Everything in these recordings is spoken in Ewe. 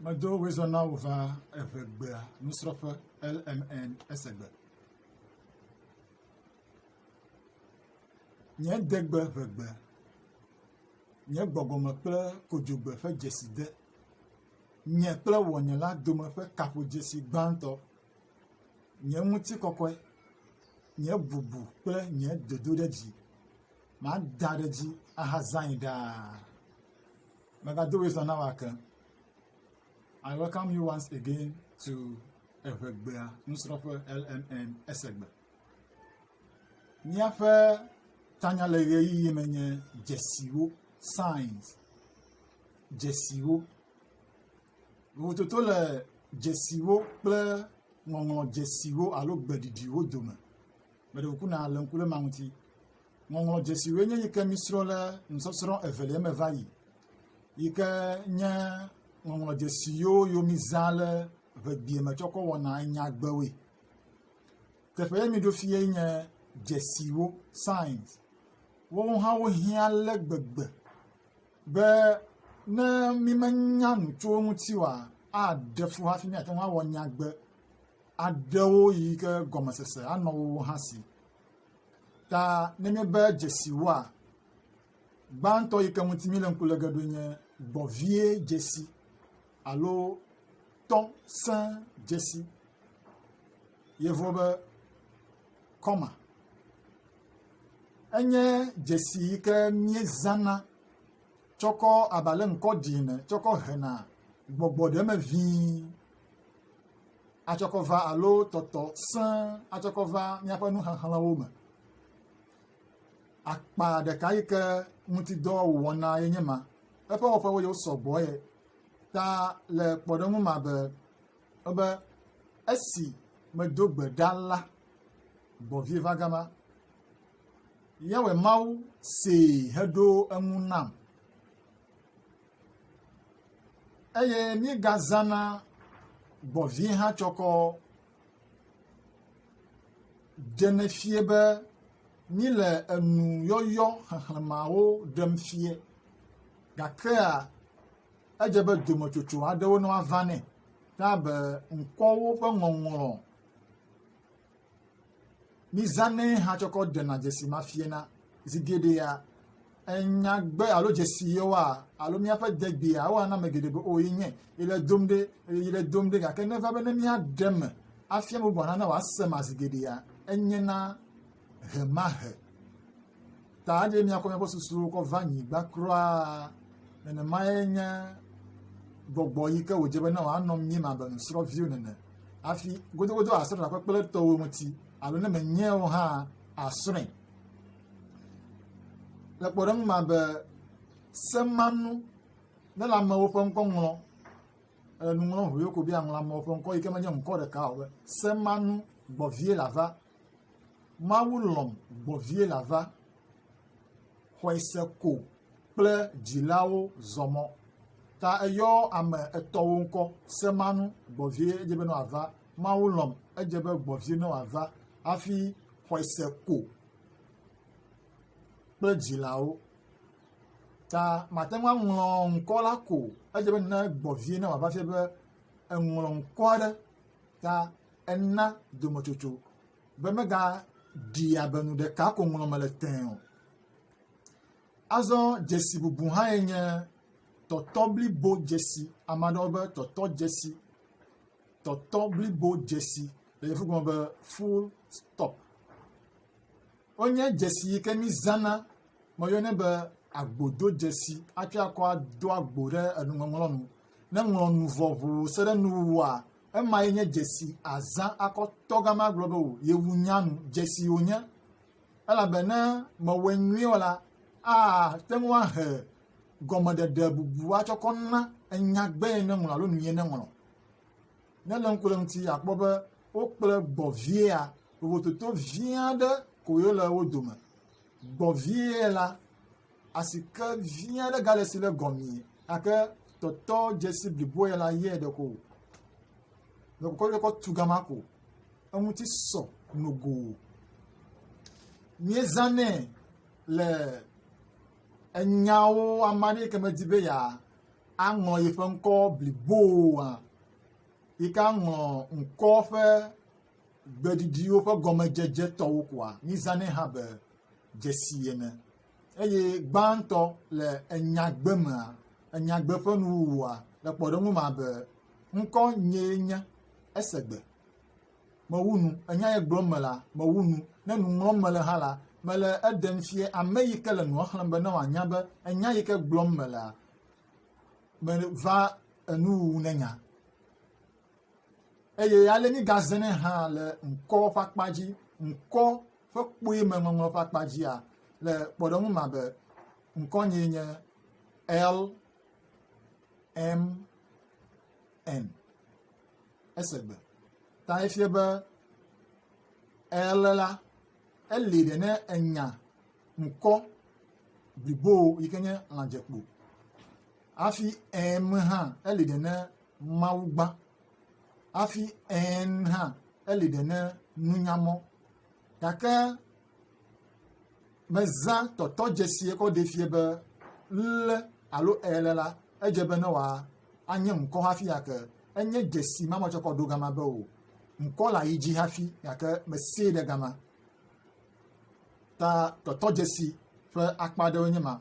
Medo wezɔ na wò va evegbea nusrɔ̃ƒe LMN esegbe. Nye degbe ʋegbe, nye gbɔgbɔme kple kodzogbe ƒe dzeside, nye kple wɔnye la dome ƒe kaƒodzesi gbãtɔ, nye ŋutikɔkɔe, nye bubu kple nye dodoɖedzi, mada ɖe edzi ahazãe ɖaa. We're gonna do this on our account. I welcome you once again to Evegbea Nusrɔƒe LMN Esegbe. Míaƒe tanya le ɣeyiɣi me nye dzesiwo, signs, dzesiwo. Vovototo le dzesiwo kple ŋɔŋlɔ dzesiwo alo gbeɖiɖiwo dome. Meɖe ŋku na le ŋku ɖe ma ŋuti. Ŋɔŋlɔdzesiwoe nye yi ke mísrɔ̃ le nusɔsrɔ̃ evelia me va yi yi ke nye ŋɔŋlɔdzesi yiwo yo mizã le ʋegbea me tsɔ kɔ wɔna nyagbewoe. Teƒe ye miɖo fia nye dzesiwo, signs. Woawo hã wohiã ale gbegbe be ne mímenya nu tso wo ŋuti oa, aɖe fu hafi míate ŋu awɔ nyagbe aɖewo yi ke gɔmesese anɔ wo hã si. Ta ne míebe dzesiwoa, gbãtɔ yi ke ŋuti míle ŋku le ge ɖoe nye gbɔvie dzesi alo tɔ sẽ dzesi. Yevuwo be kɔma. Enye dzesi yi ke míezãna tsɔkɔ abe ale ŋkɔ ɖi ene tsɔkɔ hena gbɔgbɔ ɖe eme ʋĩi atsɔkɔva alo tɔtɔ sẽ atsɔkɔva míaƒe nuxexlẽwo me. Akpa ɖeka yi ke ŋuti dɔ wòwɔna ye nye ma. Eƒe wɔƒewo yi wosɔ gbɔ ye ta le kpɔɖeŋu ma be ebe esi medo gbe ɖa la, gbɔ̃vie va gama. Yawe Mawu see heɖo eŋu nam. eye míegazãna gbɔ̃ vi hã tsɔkɔ ɖenɛ fia be míle enu yɔyɔ xexlẽmeawo ɖem fia gakea edze be dometsotso aɖewo ne woava nɛ abe ŋkɔwo ƒe ŋɔŋlɔ. Mizãnɛ hã tsɔ kɔ ɖena dzesi ma fiana. Zi geɖea, enyagbe alo dzesi yewoa alo míaƒe degbea awa na ame geɖe be o yenye yele dom ɖe yele dom ɖe gake neva be ne míaɖe me afia me bubu hã ne wòasema zi geɖea enye na ʋemaʋe. ta anye míakɔ míaƒe susuwo kɔ va nyigba kura nenemae nye gbɔgbɔ yi ke wòdze bena wòanɔ míeme abe nusrɔ̃viwo nene hafi godogodo asrɔ̃ le aƒekple etɔwo ŋuti alo ne menyae o hã asrɔ̃e. Le kpɔɖeŋu ma be semanu ne le amewo ƒe ŋkɔ ŋlɔ le nuŋlɔŋu yoko be aŋlɔ amewo ƒe ŋkɔ yi ke menye ŋkɔ ɖeka o be semanu gbɔvie lava Mawu lɔ̃m gbɔ vie la va, xɔe se ko kple dzilawo zɔ mɔ. Ta eyɔ ame etɔwo ŋkɔ se manu gbɔ vie edze be ne wòava. Mawu lɔ̃m edze be gbɔ vie ne wòava hafi xɔe se ko kple dzilawo. Ta mate ŋu aŋlɔ ŋkɔ la ko edze be ne gbɔ vie ne wòava fie be eŋlɔ ŋkɔ aɖe ta Ena dometsotso be megaɖia be nu ɖeka ko ŋlɔm mele tẽe o. Azɔ dzesi bubu hãe nye tɔtɔ blibo dzesi. Ame aɖewo be tɔtɔ dzesi. Tɔtɔ blibo dzesi le yevu gɔme be full stop. Wonye dzesi yi ke mizãna. Woyɔnɛ be agbodzodzesi hafi akɔ ado agbo ɖe enuŋɔŋlɔ nu. Ne ŋlɔ nu vɔ ŋuu se ɖe nuwuwua, Ema ye nye dzesi azã akɔ tɔ gama agblɔ be wò yewu nya nu. Dzesi wònye. Elabe ne mewɔe nyuie o la, ate ŋu ahe gɔmeɖeɖe bubu atsɔ kɔ na enyagbee neŋlɔ alo nuyie neŋlɔ. Ne le ŋku le ŋuti, akpɔ be wokple gbɔviea vovototo vi aɖe koe le wo dome. Gbɔvie la. Asike vi aɖe gale si le gɔmee gake tɔtɔ dzesi blibo ya la yɛ ɖeko o. Mekɔkɔ ɖe kɔ tu gama ko. Eŋuti sɔ nogo. Míezanɛ le enyawo ame aɖe yi ke medi be ya aŋlɔ yeƒe ŋkɔ bliboa yi ke aŋlɔ ŋkɔ ƒe gbeɖiɖiwo ƒe gɔmedzedze tɔwo koa mízanɛ hã be dzesi ene. Eye gbãtɔ le enyagbe mea, enyagbe ƒe nuwuwua, le kpɔɖeŋu ma be, ŋkɔ nyee nye, ese gbe. Mewu nu, enya ye gblɔm mele, mewu nu, ne nu ŋlɔm mele hã la, mele eɖem fia ame yi ke le nua xlẽm be ne wòanya be enya yi ke gblɔm melea, meva enuwuwu nenya. eye ale mígazẽnɛ hã le ŋkɔ ƒe akpa dzi, ŋkɔ ƒe kpui me ŋɔŋlɔ ƒe akpa dzia, le kpɔɖeŋu ma be ŋkɔnyee nye LMN. Esegbe ta efie be L la, eli ɖe ne enya ŋkɔ blibo yi ke nye lãdzekpo. Hafi M hã, eli ɖe ne Mawu gbã. Hafi ẽn hã, eli ɖe ne nunya mɔ. Gake mezã tɔtɔdzesie kɔ ɖee fia be ŋle alo eele la, edze be ne wòa anye ŋkɔ hafi ake. Enye dzesi ma metsɔ kɔ ɖo gama be o. Ŋkɔ la yi dzi hafi gake mesee ɖe gama. Ta tɔtɔdzesi ƒe akpa aɖewoe nye ma.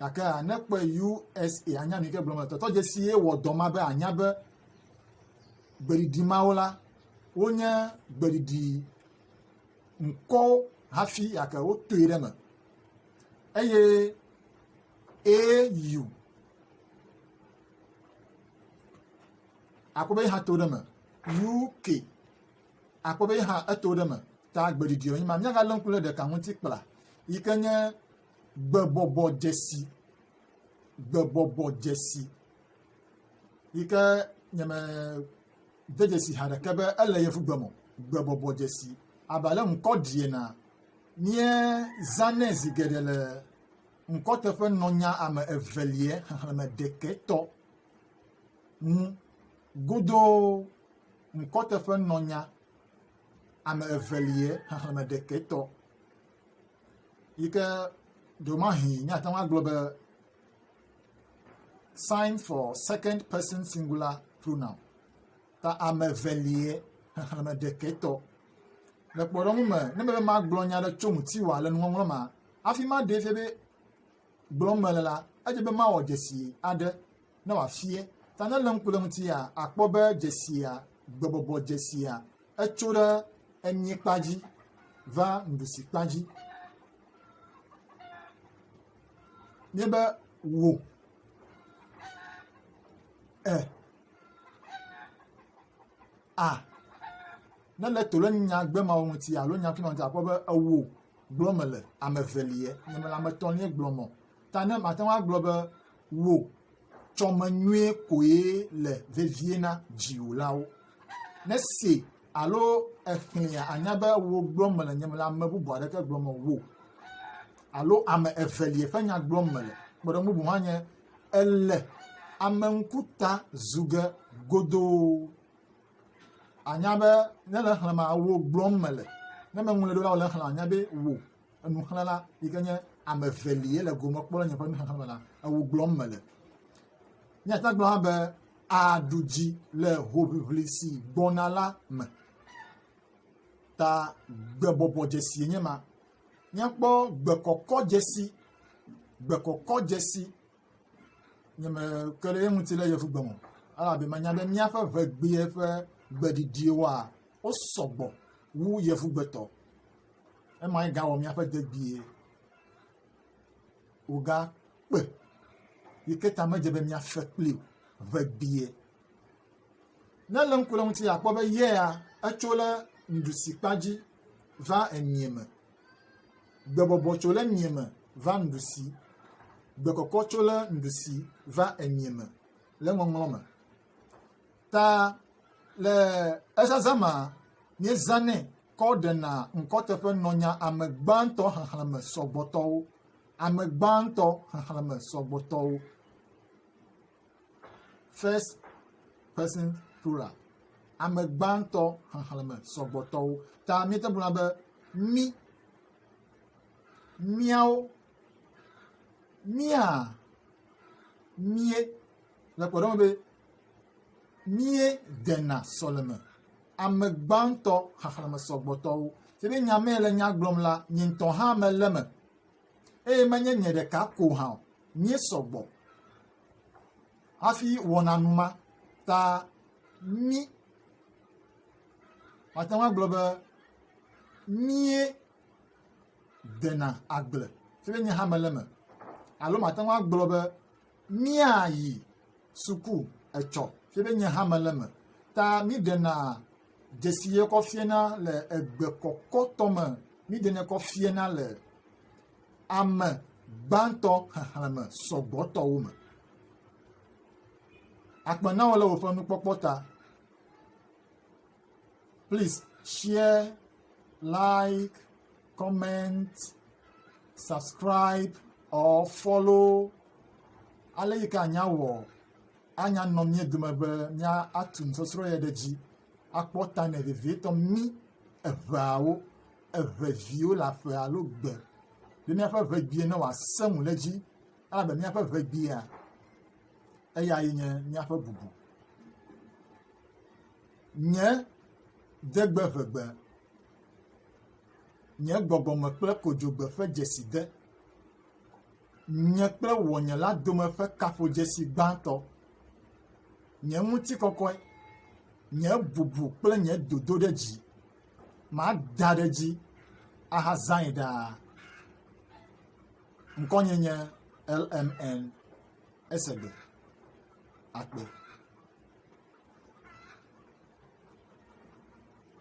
Gake a ne kpɔe USA anya nu yi ke gblɔm le tɔtɔ dzesi ye wɔ dɔ ma be anya be gbeɖiɖi mawo la wonye gbeɖiɖi ŋkɔwo hafi gake wotoe ɖe me eye AU akpɔ be hã to ɖe me UK akpɔ be hã eto ɖe me ta gbeɖiɖi wonye ma míagalé ŋku ɖe ɖeka ŋuti kpla yi ke nye Gbebɔbɔ dzesi. Gbebɔbɔ dzesi. Yi ke nyeme de dzesi ha ɖeke be ele yevugbe me o. Gbebɔbɔ dzesi. Abe ale ŋkɔ ɖi enea, míezãnɛ zi geɖe le ŋkɔteƒenɔnya ame eveliɛ xexlẽme ɖekɛ tɔ ŋu godoo. Ŋkɔteƒenɔnya ame eveliɛ xexlẽme ɖekɛ tɔ. yi ke ɖewomahi míate ŋu agblɔ be sign for second person singular pronoun ta ame evelie xexlẽme ɖekɛtɔ. Le kpɔɖeŋu me, ne mele magblɔ nya aɖe tso ŋutiwòa le nuŋɔŋlɔ ma, hafi maɖee fia be gblɔm mele la, edze be mawɔ dzesi aɖe ne wòafia. Ta ne lém ku ɖe eŋutia, àkpɔ be dzesia, gbɔbɔbɔ dzesia, etso ɖe emiekpa dzi va nuɖusikpa dzi. Nye be wò e a ne le to ɖe nyagbemawɔ ŋuti alo nyakunyɔ ŋuti akpɔ be ewò gblɔm mele, ame eveliɛ, nye mele ame etɔ̃liɛ gblɔm o. Ta ne mate ŋu agblɔ be wò tsɔme nyuie koe le vevie na dziwòlawo. Ne se alo exlẽa, ànya be wò gblɔm mele, nye mele ame bubu aɖeke gblɔm o, wò alo ame eveliɛ ƒe nya gblɔm mele. Kpɔɖeŋu bubu hã nye, èle ame ŋkuta zu ge godoo. ànya be ne le xlẽma wò gblɔm mele ne meŋlɔe ɖo la wòle xlẽ ànya be wò enuxlẽla yi ke nye ame evelie le gome kpɔ le nye ƒe nuxlẽxlẽ me la ewò gblɔm mele míate gblɔ hã be aɖu dzi le hoʋiʋli si gbɔna la me ta gbebɔbɔ dzesie nye ma míakpɔ gbekɔkɔ dzesi gbekɔkɔ dzesi nye me ke ɖe eŋuti le yevu gbe me elabe menya be míaƒe ʋegbea ƒe gbeɖiɖiwoa wo sɔgbɔ wu yevu gbetɔ. Emae gawɔ míaƒe degbee wòga kpe yi ke ta medze be míafe kpli o ʋegbea. Ne le ŋku ɖe eŋuti akpɔ be yea etso ɖe nuɖusi kpa dzi va emia me. Gbebɔbɔ tso ɖe mia me va nuɖusi. Gbekɔkɔ tso ɖe nuɖusi va emia me le ŋɔŋlɔ me. Ta le ezazã ma, míezãnɛ kɔ ɖena ŋkɔteƒe nɔ nya ame gbãtɔ xexlẽme sɔgbɔtɔwo. Ame gbãtɔ xexlẽme sɔgbɔtɔwo. First person plural. Ame gbãtɔ xexlẽme sɔgbɔtɔwo. Ta míete ŋu agblɔ be mí, míawo, mía, mie le kpɔɖeŋu be mie dena sɔleme. Ame gbãtɔ xexlẽme sɔgbɔtɔwo. Te ɖe nya mee le nya gblɔm la, nye ŋutɔ hã mele eme. Eye menye nye ɖeka ko hã o. Míesɔgbɔ. hafi wɔna nu ma ta mí, màte ŋu agblɔ be míe dena agble si be nye hã mele eme alo màte ŋu agblɔ be míayi suku etsɔ si be nye hã mele eme ta míɖena dzesi ye kɔ fiana le egbe kɔkɔtɔ me míɖenɛ kɔ fiana le ame gbãtɔ xexlẽme sɔgbɔtɔwo me. Akpe na wò le wòƒe nukpɔkpɔ ta. Please share, like, comment, subscribe or follow. Ale yi ke anya wɔ anya nɔ mía dome be mía atu nusɔsrɔ̃ yɛ ɖe dzi akpɔ ta nɛ vevietɔ mí eveawo. eve viwo le aƒe alo gbe be míaƒe ŋegbee ne wòasẽ ŋu ɖe edzi elabe míaƒe ŋegbea, eyae nye míaƒe bubu. Nye degbe ŋegbe, nye gbɔgbɔme kple kodzogbe ƒe dzeside, nye kple ŋɔnye la dome ƒe kaƒodzesi gbãtɔ, nye ŋutikɔkɔe, nye bubu kple nye dodoɖedzi. Mada ɖe edzi ahazãe ɖaa. Ŋkɔnye nye LMN Esegbe Akpe.